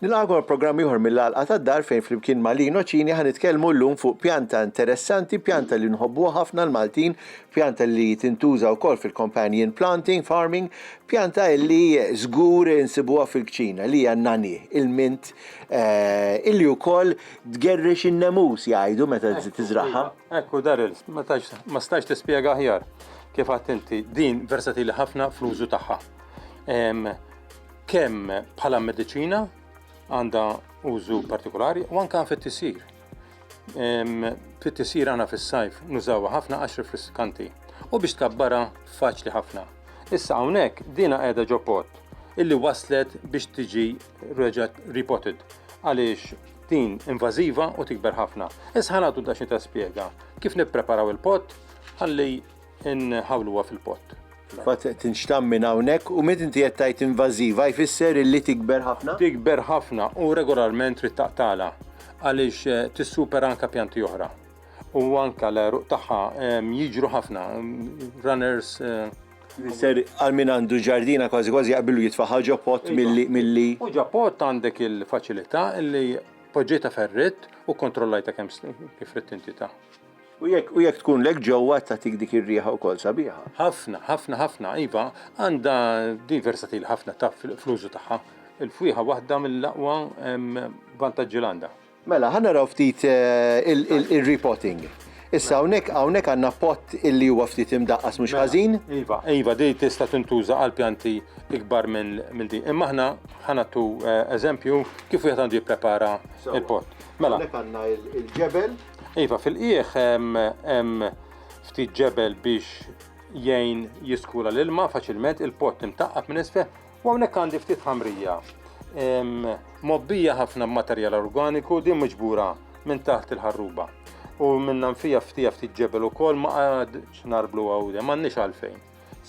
Nilqgħu għal programm ieħor mill-Għalqa tad-Dar fejn flimkien ma' Lino Ċini ħa nitkellmu llum fuq pjanta interessanti, pjanta li nħobbuha ħafna l-Maltin, pjanta li tintuża wkoll fil-companion planting, farming, Pjanta illi żgur insibuha fil-kċina li hija n-nagħnieh, il-mint, illi wkoll tgerrex in-nemus jgħidu meta tiżragħha. Hekk hu Daryl, ma stajtx tispjega aħjar. Kif għedt inti, din versatili ħafna fl-użu tagħha. Kemm bħala mediċina għandha użu partikolari u anke fit-tisjir. Trid tisir għana fis-sajf nużawha ħafna għax rifrissikanti u biex tkabbara faċli ħafna. Issa hawnhekk dina qiegħda ġo pot illi waslet biex tiġi reġgħet repotted għaliex din invażiva u tikber ħafna. Issa ħanatu daċi ta' spjega kif nippreparaw il-pot ħalli inħawluha fil-pott. Fil-fatt tinxtamm minn hawnhekk u meta inti qed tgħid invażiva jfisser illi tikber ħafna? Tikber ħafna u regolarment trid taqtala għaliex eh, tissupera anke pjanti oħra. U anke l-għeruq tagħha ehm, jiġru ħafna ehm, runners eh, Ser għal min għandu ġardina kważi kważi jaqbilu jitfaħħa ġo pot iva. milli. U ġo pot għandek il-faċilità li poġġejta ferrit u kontrollajta kemm kif rid inti ta' U jekk u jekk tkun lek ġewwa tagħtik dik ir-riħa wkoll sabiħa. Ħafna, ħafna, ħafna, iva, għandha din versatil ħafna taf fl-użu tagħha. Il-fwieħa waħda mill-aqwa vantaġġi l-għandha. Mela, ħa naraw ftit ir-repotting. Issa hawnhekk hawnhekk għandna pott illi huwa ftit imdaqqas mhux mela, ħażin. Iva, iva, di tista' tintuża għal pjanti ikbar minn minn din. Imma aħna ħanatu eh, eżempju kif wieħed għandu jipprepara il-pott. Mela. Hawnhekk għandna il-ġebel Iva, fil-qieħ hemm ftit ġebel biex jgħin jiskula l-ilma faċilment il-pott imtaqqab minn isfel u hawnhekk għandi ftit ħamrija. Mobbija ħafna b'materjal organiku din miġbura minn taħt il-ħarruba. U minnan fija ftija ftit ġebel ukoll ma għadx narblu għawde, m'għandniex għalfejn.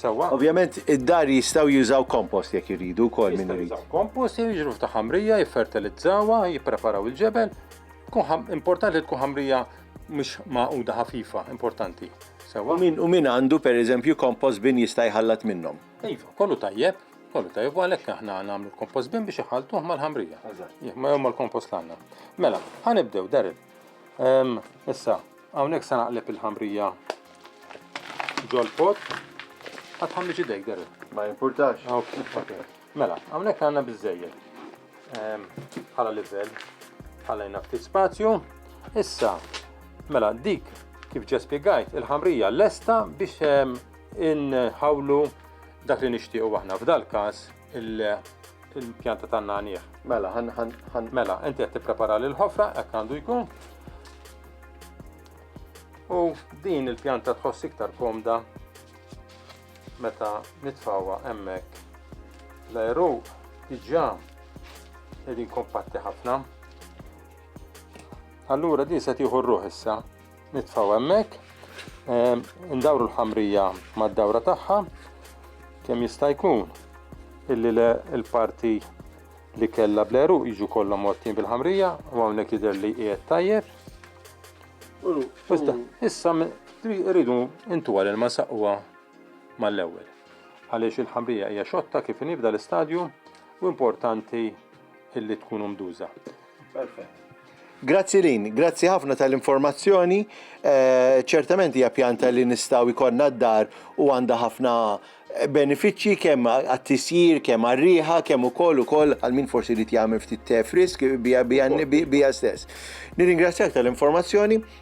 Sewwa. Ovvjament id-dar jistgħu jużaw kompost jekk iridu wkoll min irid. Kompost jiġru f'ta' ħamrija, jiffertilizzawha, jippreparaw il-ġebel. Tkun importanti li tkun ħamrija mhux magħquda ħafifa, importanti. Sewwa. U min għandu pereżempju kompost bin jista' jħallat minnhom. Iva, kollu tajjeb, kollu tajjeb għalhekk aħna nagħmlu kompost bin biex iħalltuh mal-ħamrija. Ma jew mal-kompost tagħna. Mela, ħanibdew daril. Ehm, issa, Hawnhekk se naqleb il-ħamrija ġol-pot. Ħadd ħammiġ idejk der. Ma jimpurtax. Mela, hawnhekk għandna biżejjed. Ehm, bħala livell, ħallejna ftit spazju. Issa, mela dik kif ġa spjegajt il-ħamrija lesta biex ehm, inħawlu dak li nixtiequ aħna f'dal każ il-pjanta ta' naniħ. Mela, ħan, ħan, ħan. Mela, inti qed tipprepara l ħofra hekk għandu jkun. U din il-pjanta tħoss iktar komda meta nitfawa hemmhekk. L-aeru diġà qegħdin kompatti ħafna. Allura din se tieħu ruħ issa Nitfgħu hemmhekk, ehm, ndawru l-ħamrija mad-dawra tagħha kemm jista' jkun illi l-parti li kellha bleru jiġu kollha mortin bil-ħamrija u hawnhekk jidher li qiegħed tajjeb. Iżda, issa rridu intu għal ma saqwa mal-ewwel. Għaliex il-ħamrija hija xotta kif nibda l-istadju u importanti illi tkun umduża. Perfett. Grazzi Lin, grazzi ħafna tal-informazzjoni. Eh, ċertament hija pjanta li nistgħu jkollna d-dar u għandha ħafna benefiċċji kemm għat-tisjir, kemm għar-riħa, kemm ukoll ukoll għal min forsi li jagħmel ftit frisk bija stess. Nirringrazzjak tal-informazzjoni